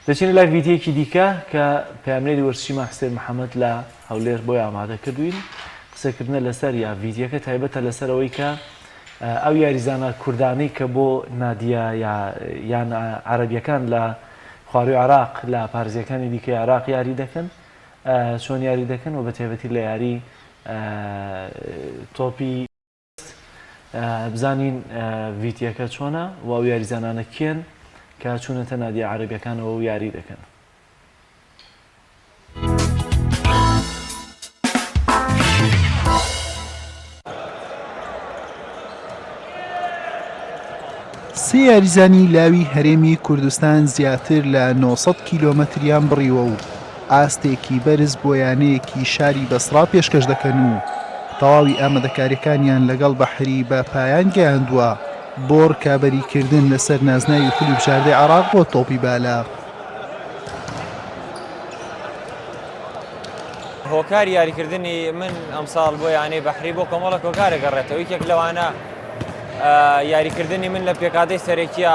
دەچینە لای ڤیدیۆیەکی دیکە کە پەیامنێری وەرزشی ماکستێر محەمەد لە هەولێر بۆی ئامادە کردوین قسەکردنە لەسەر یا ڤیدیەکە تایبەتە لەسەر ئەوەی کە ئەو یاریزانە کوردانەی کە بۆ نادیە یان عەربیەکان لە خواروی عراق لە پارزیەکانی دیکە عراق یاری دەکەن چۆن یاری دەکەن و بە تێبەتی لە یاری تۆپی مەبەست بزانین ڤیتیەکە چۆنە و ئەو یاریزانانە کێن کە چوونەتە نادیە عربیەکانەوە و یاری دەکەن. سێ یاریزانی لاوی هەرێمی کوردستان زیاتر لە 900 کیلۆمەتریان بڕیوە و ئاستێکی بەرز بۆ یانەیەکی شاری بەسڕا پێشکەش دەکەن و تەواوی ئامادەکاریەکانیان لەگەڵ بەحری بە پایان گەیاندووە بۆ رکابەریکردن لەسەر نازناوی خولی بژاردەی عێراق بۆ تۆپی بالە. هۆکاری یاریکردنی من ئەمساڵ بۆ یانەی بەحری بۆ کۆمەڵە کۆکارە گەڕێتەوە یەک لەوانە یاریکردنی من لە پێکادەی سەرەکیە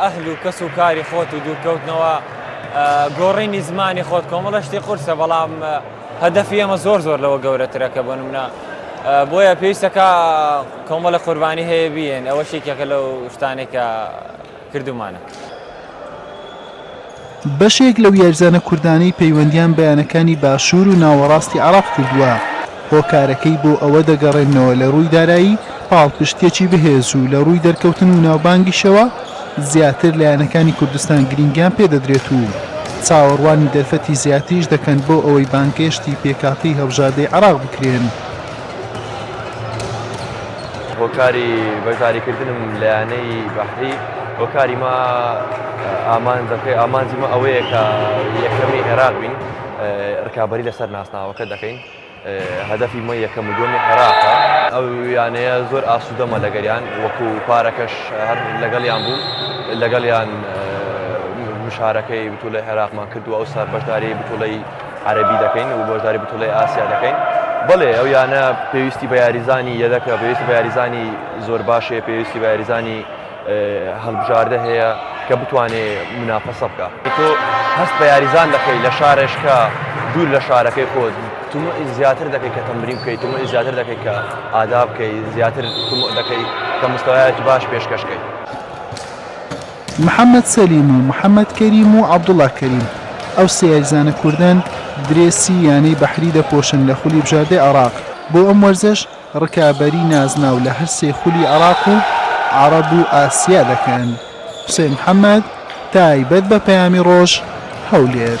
ئەهل و کەس و کاری خۆت و دوورکەوتنەوە گۆڕینی زمانی خۆت کۆمەڵە شتی قورسە بەڵام هەدەفی ئێمە زۆر زۆر لەوە گەورەترە کە بۆ نمونە بۆیە پێویستەکە کۆمەڵە قوربانی هەیە بیێن ئەوە شێکێکە لەو شتانێکە کردومانە. بەشێک لەو یاریزانە کوردانەی پەیوەندیان بە یانەکانی باشوور و ناوەڕاستی عێراق کردووە، هۆکارەکەی بۆ ئەوە دەگەڕێننەوە لە رووی دارایی، پاڵپشتییەکی بەهێز و لە رووی دەرکەوتن و ناوبانگیشەوە زیاتر لە یانەکانی کوردستان گرنگیان پێدەدرێت و چاوەڕوانی دەرفەتی زیاتریش دەکەن بۆ ئەوەی بانگهێشتی پێکهاتەی هەڵبژاردەی عێراق بکرێن. هۆکاری بەشداریکردنم لە یانەی بەحری هۆکاری ما ئامانجەکەی ئامانجی مە ئەوەیە کە یەکەمی عێراق بین ڕکابی لەسەر ناسناوەکە دەکەین هەدەفی مە یەکەم و دومی عێراقە ئەو یانەیە زۆر ئاسوودەمە لەگەریان وەکو پارەکەش هەر لەگەڵیان بوو لەگەڵیان مشارەکەی بتوو لە عێراقمان کردو ئەو سەر بەشداری بتوڵی عەرەبی دەکەین و بەشداری بتوڵی ئاسیا دەکەین بەڵێ ئەو یانە پێویستی بە یاریزانی یەدەکە پێویستی بە یاریزانی زۆر باشێ پێویستی بە یاریزانی هەڵبژاردە هەیە کە بتوانێ منافەسە بکە تۆ هەست بە یاریزان دەکەی لە شارێشکە دوور لە شارەکەی خۆت تمە زیاتر دەکەی کە تەمبری بکەیت تمە زیاتر دەکەی کە ئادا بکەی زیاتر تمە دەکەی کە مستەوایەکی باش پێشکەشکەیت محەمەد سەلیم و محەمەد کەریم و عەبدوڵا کەریم، ئەو سێ یاریزانە کوردەن درێسی یانەی بەحری دەپۆشن لە خولی بژاردەی عێراق، بۆ ئەم وەرزەش رکابەری نازناو لە هەر سێ خولی عێراق و عەرەب و ئاسیا دەکەن. حوسێن محەمەد، تایبەت بە پەیامی رۆژ، هەولێر.